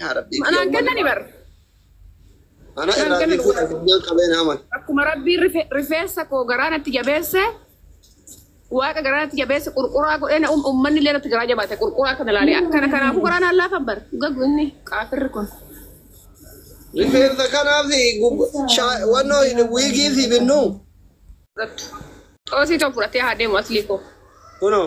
Yaa Rabbii Manaan kiyya kennani uummanni bar. Mana Manaan irraa kennan bituu addunyaan qabeen haman. Akkuma rabbiin rife- rifeensa koo garaa natti jabeesse waaqa garaa natti jabeesse qurquraa godhee na uum- uummanni illee natti garaa jabaate qurquraa kana ilaalee akkana kanaafuu garaa naan laafan bar gagu inni qaafirri kun. Rifeensa kanaaf gub- shaa- wannoo wiigii si binnu. Xoosii tokko fudhatee haa deemu aslii koo. Kunoo.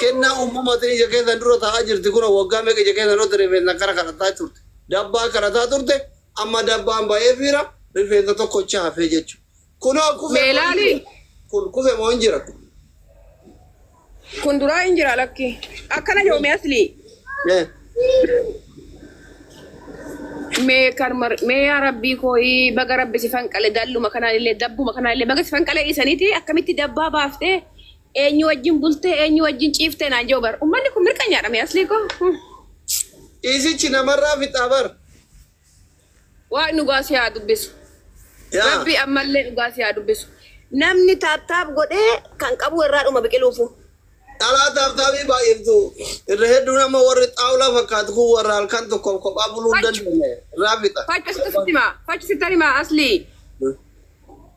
Kennaa uumamatin ija keessan dura taa'aa jirti kunoo waggaa meeqa ija keessan dhotte rifeensan kara kadhataa turte dabbaa kadhataa turte amma dabbaan ba'eefiira rifeensa tokkocha hafee jechu kunoo kufe Mee moo hin ilaali. jira kun kufe moo hin jira kun Kun duraa hin jira lakki. Akkana jedhu mee asli. Eh, Mee kan mar mee yaa rabbii kooyii baga rabbi si fanqale dalluma kanaan illee dabbuma kanaan illee baga si fanqale dhiisaniiti akkamitti dabbaa baaftee Eenyu wajjin bultee eenyu wajjin ciiftee naan jiru bar. Ummanni kun mirqanyaadha mee aslii koo. Hmm. Ciisichi namarraa fixaa bar. Waaqni dhugaa si haa dubbisu. Yaa. Rabbi ammallee dhugaa si haa dubbisu. Namni taaptaap godhee kan qabu irraa dhuma biqiluufu. Dhalaa taaptaabii baay'iftu irra hedduun amma warri xaawulaa fakkaatu kun warra halkan tokko kophaa buluu hin dandeenye irraa fixa. Fachu sitti sitti himaa. Fachu sitti himaa aslii.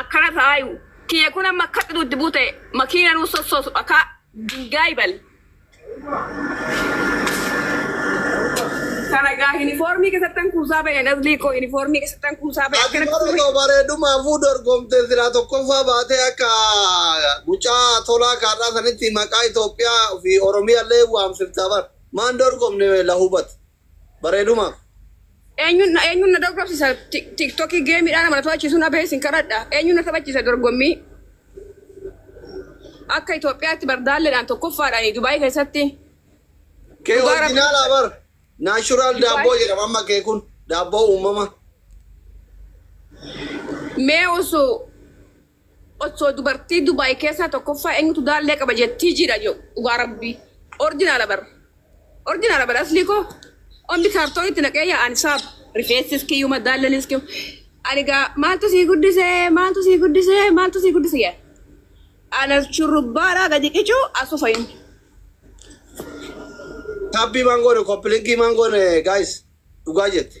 Akkana taayu kiyya kun amma akka xiduutti buute makiina nuu sossoosu dhakaa dingaay bal. Kana gaa yunifoormii keessattan kuusaa bahe nazlii koo yunifoormii keessattan kuusaa bahe Ati akkana bara koo bareedumaafuu dorgomte silaa tokkoffaa baatee akka mucaa tolaa kaarraa sanitti maqaa Itoophiyaa fi Oromiyaallee waamsifta bar. Maan dorgomne la hubatu. bareedumaaf. Eenyuun na eenyuun na dorgomsisa Tik- tiktokii geemiidhaan nama na taphachiisu na beesin kadhadha eenyuun na taphachiisa dorgommii akka Itoophiyaatti bardaalleedhaan tokkoffaadhaan Dubaayii keessatti Kee dhugaa rabbi orjinaalaa bar. Naashuraal Dubaayii daabboo jedhama amma kee kun. Daabboo uumama. mee osoo Osso dubartii dubai keessaa tokkoffaa enyutu daallee qaba jettii jiidha jedhu dhugaa rabbii orjinaala bar orjinaala bar aslii koo omni kaartoon itti naqee yaa ani saab rifeessis kiyyuma daallenis kiyyuma ani gaa maaltu sii guddisee maaltu sii guddisee maaltu sii guddise yaa ana shurrubbaadhaa gadi qicuu asu fayyuun Tabbii maan goone koppilinkii maan goone guys dhugaa jette.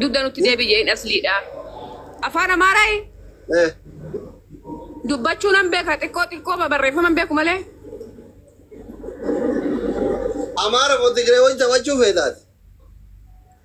Dugda nutti deebi'ee hin asliidha. Afaan Amaaraa Eh, dubbachuu nan beeka xiqqoo xiqqoo barreeffama hin beeku malee. Amaara moo Tigiree wajjin taphachuu feetaati?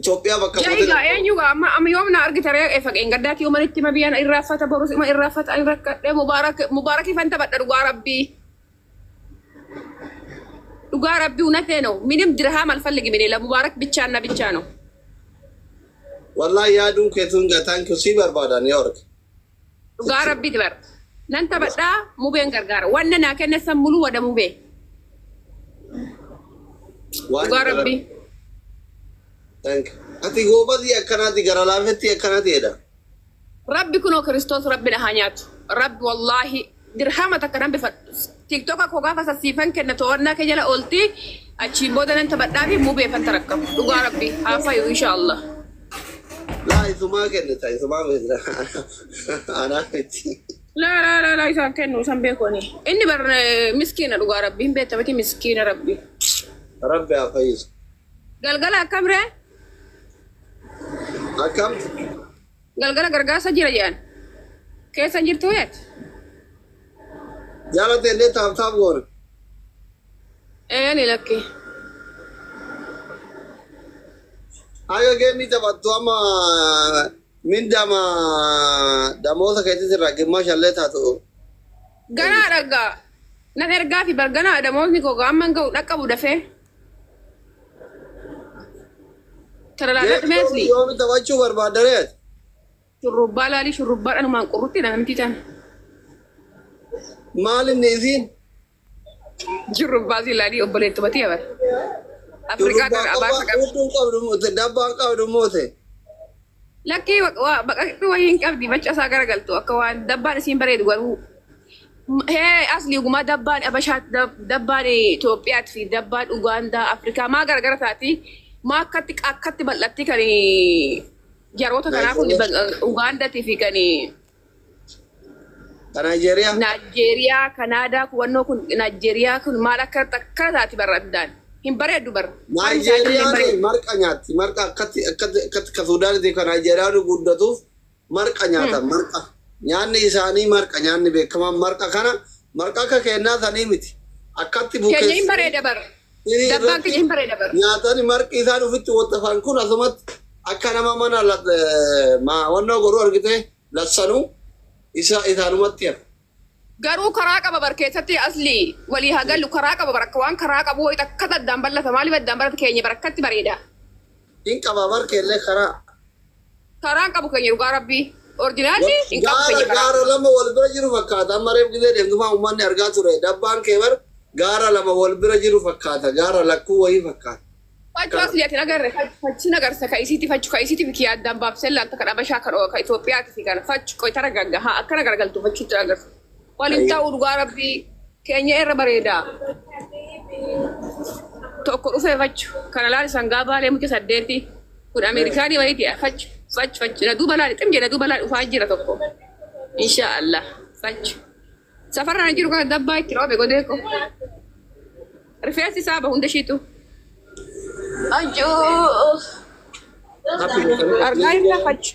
Itoophiyaa bakka Jaa buutee egaa darbuu. eenyu gaa amma amma yoom na argita ree efa qeengaddaa kiyoo manitti ma biyyaan irraaffata borus ima irraaffata ani rakkadhee mubaarak mubaarakii fan taphadha dhugaa rabbii dhugaa rabbii unatee no minim dirhaa mal falligi minee la mubaarak bichaan na bichaa no Wallaahi yaaduun keetuun gaa thank you sii barbaadaan yoo arge. Dhugaa rabbiiti bar. Nan taphadhaa mubeen gargaara. Wanna naa kenna san muluu wada mubee. Waan Dhugaa jala- rabbii. Thank you. Ati goobazii akkanaati gara laafetti akkanaati jedha. Rabbi kunoo kiristoos rabbi na haa nyaatu. Rabbi wallaahi Dirhama takka nan bifadhu. Tiktoka koo gaafa san siifan kenna to'annaa kee jala oolti achiin booda nan taphadhaafi mubeefan tarakkama. Dhugaa rabbii haa fayu insha Allah. Laa isumaa kennita isumaa beekna anaa miti. Laa laa laa laa isaan kennu isan beeku ani. Inni bar eh, miskiina dhugaa rabbii hin beekta miti miskiina rabbii. Rabbi haa fayyisu. Galgala akkamree? Akkam? Galgala gargaarsa jira jedhan. Keessa hin jirtuu yet? Jaalate illee taap taap goona. Eeli lakki. Haga geemii taphattu amma mindama damoosa keetis irraa gimmaasha illee taatu. Ganaa dhaggaa. Nan ergaa fi barganaa damoosni koo gaamman ga'u dhaqqabu dafee. Tararaadhaa dhumee asli. Yoomi taphachuu barbaadda ree ati? Shurrubbaa laalii shurrubbaadhaan humaan qurrutti dha namti tan. Maal inni isiin? Shurrubbaa si laalii obboleettumatii abar. Afrikaa Shurrubbaa gara abaa qofa fagaaf. utuu qabdu moote dabbaa qabdu moote. Lakkii baqaqni wayii hin qabdi macha isaa gara galtu akka waan dabbaan isiin bareedu garuu hee asli gumaa dabbaan abashaa dabbaan Itoophiyaat fi dabbaan Ugaandaa Afrikaa maa gara gara taati maa akkatti akkatti bal'atti kan jaroota kanaa kun Ugaandaatii fi kan Ka Naayijeeriyaa. Naayijeeriyaa, Kanaadaa kuwannoo kun Naayijeeriyaa kun maal akka akka taati barra addaan. Hin bareeddu barra. Foon isaa illee hin Naayijeeriyaan bareeddu. marqa nyaatti. Marqa akkatti akkatti akkatti ka Suudaanitti ka Naayijeeriyaan guddatuuf marqa nyaatan marqa. Nyaanni isaanii marqa nyaanni beekamaan marqa kana marqa akka kennaa sanii miti. Akkatti Kenya hin bukeessanii bareeda barra. Sirii Dabbaan irratti kiyya hin bareeda bara. nyaatanii marqii isaan ofitti wottafan kun asumatti akka nama mana la- eh, ma- wannoo godhu argite lassanuu isa isaanumatti hafe. Garuu karaa qaba bar keessatti asli walii hagallu karaa qaba bar akka waan karaa qabu wayita akkata addaan ballata maaliif addaan ballata keenya bar akkatti bareeda. Hin qabaa bar keellee karaa. Karaa hin qabu keenya dhugaa rabbii. Orjinaalli hin qabu Gaara keenya karaa. gaara lama wal bira jiru fakkaata. Amma reef gizee deemtumaa uummanni argaa ture. Dabbaan kee bar gaara lama wal bira jiru fakkaata. Gaara lakkuu wayii fakkaata. Fachuu asli ati nagarre fachi nagarsa ka isiiti fachu ka isiiti biki addaan baabsee laalta kan abashaa kan kan Itoophiyaati fi kan fachu qoy tara gaggahaa akkana garagaltu fachuutti agarsiisa. Wal hin ta'u dhugaa rabbii keenya irra bareedaa. Tokko dhufee fachu kana laali sangaa baalee mucha saddeetii kun Ameerikaanii wayiiti fachu fachu fachu na duuba laali xim jedha duuba laali dhufaa jira tokko. Inshaa Allah fachu. Safarraa jiru kana dabbaa itti dhoobe godee ko. Rifeensi isaa ba hunda shiitu. Ajoo. Argaa irra fachu.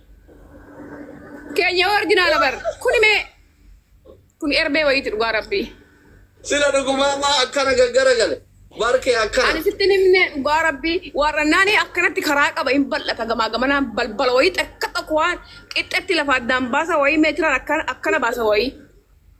Keenya orjinaala bar. Kuni mee kun erbee wayiiti dhugaa rabbii. Sila dhugumaa maa akkana gaggara gale. Barkee akkana. Ani sitti hin himne dhugaa rabbii warra naani akkanatti karaa qaba hin bal'ata gamaa gamanaan balbala wayii takka tokko waan qixxetti lafa addaan baasa wayii meetiraan akkana akkana baasa wayii.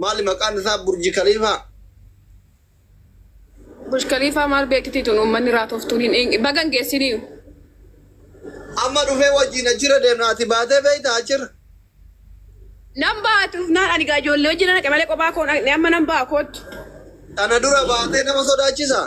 Maali maqaan isaa burji kaliifaa. Bush Khalifa maal beekiti tun uummanni raatoftuun hin eenye baga hin geessiniyu. Amma dhufee wajjin achirra deemna ati baatee beektaa achirra. Nan ba'a tuufnaan ani gaa ijoollee wajjin dhaqe malee kophaa koo hin dhaqne amma nan ba'a koottu. Tana dura baatee nama sodaachisaa?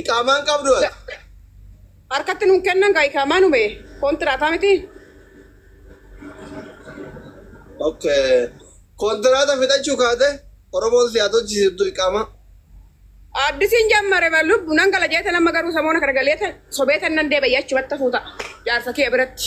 Iqaamaan qabdu ati. Harkatti nuun kennan kaa ikaamaa nume kontiraataa miti. Okay. Kontiraata fixachuu kaate Oromoon si haa tolchisiiftu iqaamaa. Addisiin jammare ba lubbu nan gala jeeta nama garuu samoona kana galeeta sobeeta nan deebi'ee achumatti hafuuta jaarsa kiyya biratti.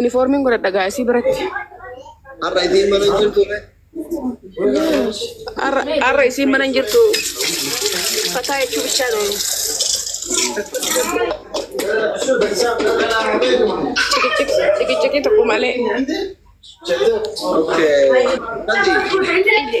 Inifoormiin godhadha gaa isii biratti. Har'a isiin mana hin jirtu ree. Har'a har'a isiin mana hin jirtu. Fataa jechuu bichaa dha. Ciqiciqii tokko malee. Okay. Nanti.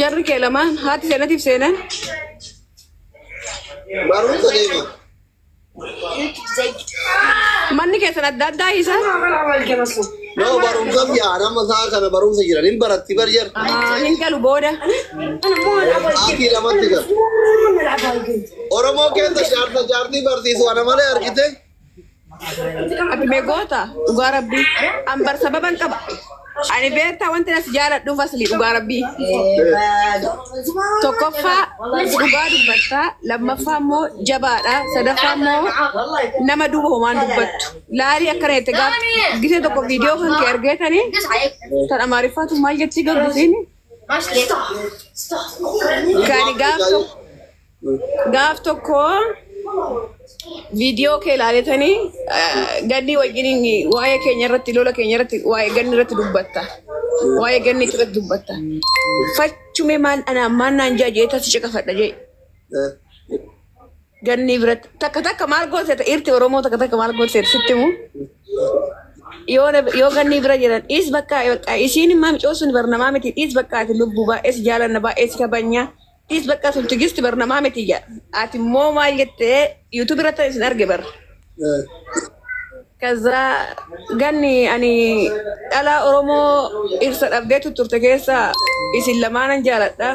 Jarri kee lamaan haati seenatiif seenan. Barumsa deema. Manni keessan adda addaa isa. Yoo barumsa biyyaa nama isaa kana barumsa jiran hin baratti bar jar. Ah, Hin galu booda. Ati lamatti gal. Oromoo keessa jaarsa jaartii barsiisu ana malee argite. Abime goota dhugaa rabbii ambar sababan qaba. Ani beektaa wanti as jaaladhuuf asli dhugaa rabbii. Tokkoffaa dhugaa dubbattaa lammaffaa immoo jabaadha sadaffaa immoo nama duuba homaan dubbattu. Laalii akkana jette gaaf gisee tokko viidiyoo kan kee argee tani tan amaariffaatu maal jettii gaggusiini. Gani gaaf tokko Gaaf tokko viidiyoo kee ilaaletanii ganni wajjin waa'ee keenya irratti lola keenya irratti waa'ee ganni irratti dubbatta. Waa'ee ganni irratti dubbatta. Fachume maal anaan maal naan jaa jeeta si caqafadha jee. Ganni biratti takka takka maal goote irti Oromoo takka takka maal goote sitti himuu. yoo na- yoo ganni bira jiran dhiis bakka bakka isiin immaa micoo sun barnamaa miti dhiis bakka ati lubbuu baay'ee si jaalanna baay'ee si kabanya Dhiis bakka sun tigisti bar namaa miti ija. Ati immoo maal jettee YouTube irratti isin arge bar. Kaza ganni ani dhalaa Oromoo dhirsa dhabdee tutturte keessa isin lamaa nan jaaladha.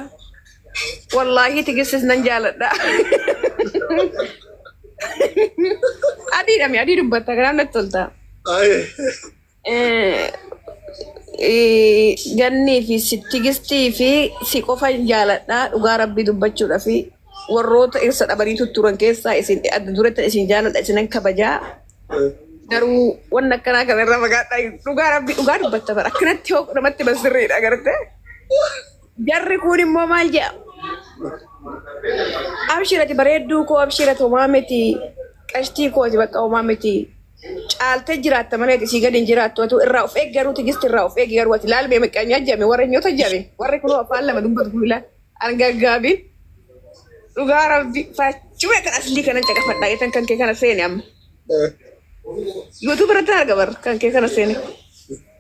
Wallaahi tigistis nan jaaladha. Adiidha mi adii dubbatta kanaaf natti tolta. Aye. Gannii fi Tigistii fi si qofa hin jaaladha dhugaa rabbii dubbachuudha fi warroota irsa dhabanii tutturan keessaa isin adda duretti isin jaaladha isinan kabajaa garuu wanni akkanaa kana irra fagaadha dhugaa rabbii dhugaa dubbatta bara akkanatti hoo namatti ban sirriidha garte jarri kun immoo maal jedha abshirati bareedduu koo abshirati homaa miti qashtii kooti bakka homaa miti caaltee jiraatta malee ati sii gadi hin jiraattu atu irraa of eegi garuu tigisti irraa of eegi garuu ati laal mee miqqanyaa jame warra nyoota jame warri kunoo afaan lama dubbatu kun ilaa argaggaabiin dhugaa rabbi faachuma kan aslii kanan caqafadhaa jetan kan kee kana seene amma yuutuub irratti hin arga barra kan kee kana seene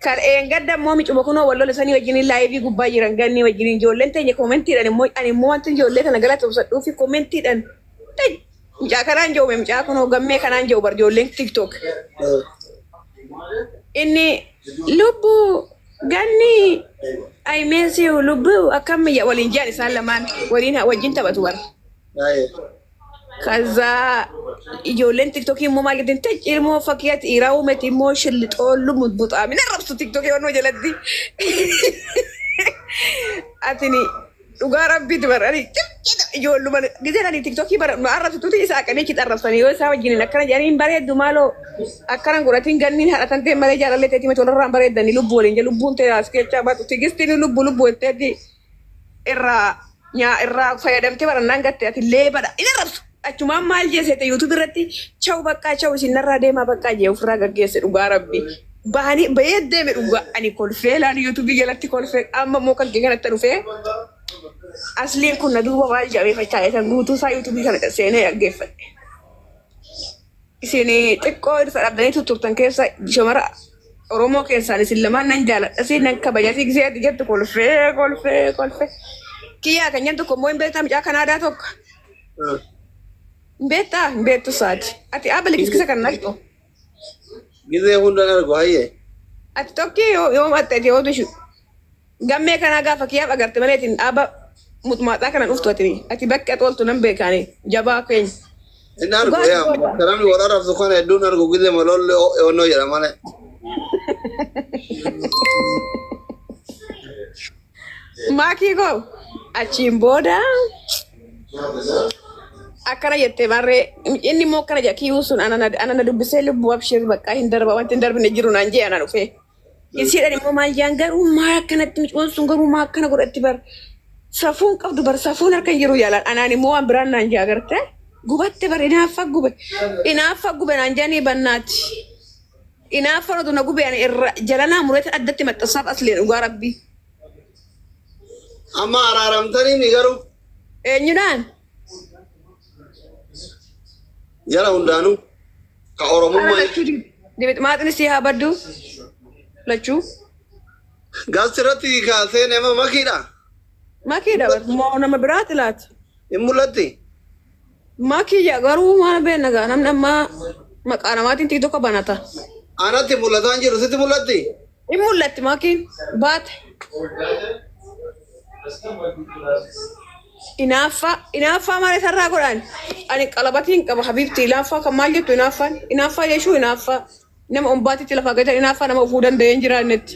kan eengadda immoo micuma kunoo wal lola sanii wajjiniin laayivii gubbaa jiran gannii wajjiniin ijoolleen teenya koomentiidhaan immoo ani immoo wanti ijoollee kana galatoomsadhuu fi koomentiidhaan Mucaa kanaan jiru mee mucaa kunoo gammee kanaan jiru bar ijoolleen tiktok. Inni lubbu ganni I miss you lubbu akkam ya waliin jiran isaan lamaan waliin wajjin taphatu bar. Kaza ijoolleen tiktokii immoo maal jettiin tech ilmoo fakkiya dhiiraa uumeti immoo shillixoo lumu buxaamina rabsu tiktokii waan jalatti. Atini Dhugaa rabbiiti bara ani xiqqeeta ijoolluma gizeen ani tiktokii bara nu arrabsituuti isa aqanii achitti arrabsanii yoo isaa wajjiniin akkana jedhanii hin bareeddu maaloo akkana hin godhatiin ganniin haadha tan ta'e malee jaalallee ta'eeti miti walirraa hin bareeddanii lubbuu waliin jee lubbuun ta'e as keessaa baatu tigistiin lubbuu lubbuu jetteetti irraa nyaa irraa fayyadamtee barannaan gatte ati leebadha hin arrabsu. Achumaan maal jee seete YouTube irratti chaw baqqaa chaw isin narraa deemaa baqqaa jee ofirraa gaggeesse dhugaa rabbi. Baanii bayee deeme dhugaa ani kolfee laan YouTube jalatti kolfee amma immoo kan kee kanatti dhufee asliin kun na duuba maal jedhamee fachaa eetan guutuu isaa YouTube kana seenee dhaggeeffadhe. Isin xiqqoo irsa dhabdanii tutturtan keessa shamara Oromoo keessaan isin lamaan nan jaaladhasi nan kabajasi gisee ati jettu kolfee kolfee kolfee. Kiyyaa kan jettu kommoo hin beektaa mucaa Kanaadaa tokko. Hin beektaa hin beektu saati. Ati abali kiskisa kan naqxu. Gizee hundaan argu hayyee. Ati tokki yoo yoo maxxate yoo bishu. Gammee kanaa gaafa kiyaaf agarte malee itin dhaaba muxmaaxaa kana dhuftu atini. Ati bakki at ooltu nan beekaani. Jabaa keenya. Hin argu Dhugaa yaa goota. maskarami wal arabsu kana hedduun argu gille malolle onnoo jedha malee. Maakii koo achiin booda akkana jette barree inni immoo akkana jedha kiyuu sun ana na- ana na dubbisee lubbuu abshir baqqaa hin darba wanti hin darbine jiru naan jee ana dhufee. Isiidhaan immoo maal jaan garuu maa akkanatti micuun sun garuu maa akkana godhatti bar safuun qabdu bar safuun harka hin jiru jaalaan anaan immoo waan biraan naan jaa garte gubatte bar inaaffa gube inaaffa gube naan jaanii bannaati inaaffa nutu na gube ani irra jalanaa mureetan addatti maxxansaaf asleen dhugaa rabbii Amma araaramtanii mi garuu? eenyudhaan Jara hundaanuu ka Ana Oromummaa lachuu dibit maaxni sii haa baddu lachuu gaazexaa irratti kaasee nama makiidha. makii dabar moo nama biraa xilaati Hin mul'atti. makii ja garuu maal beekna gaa namni ammaa maqaa namaatiin tiktokka banata Anatti mul'ataan jiru sitti mul'atti. Hin mul'atti makiin baate. Inaaffaa inaaffaa maal isarraa godhaan ani qalabatiin qaba habiibti inaaffaa kan maal jettu inaaffaan inaaffaa jechuun inaaffaa nama ombaatitti lafa gatan inaaffaa nama ofuu danda'ee hin jiraannetti.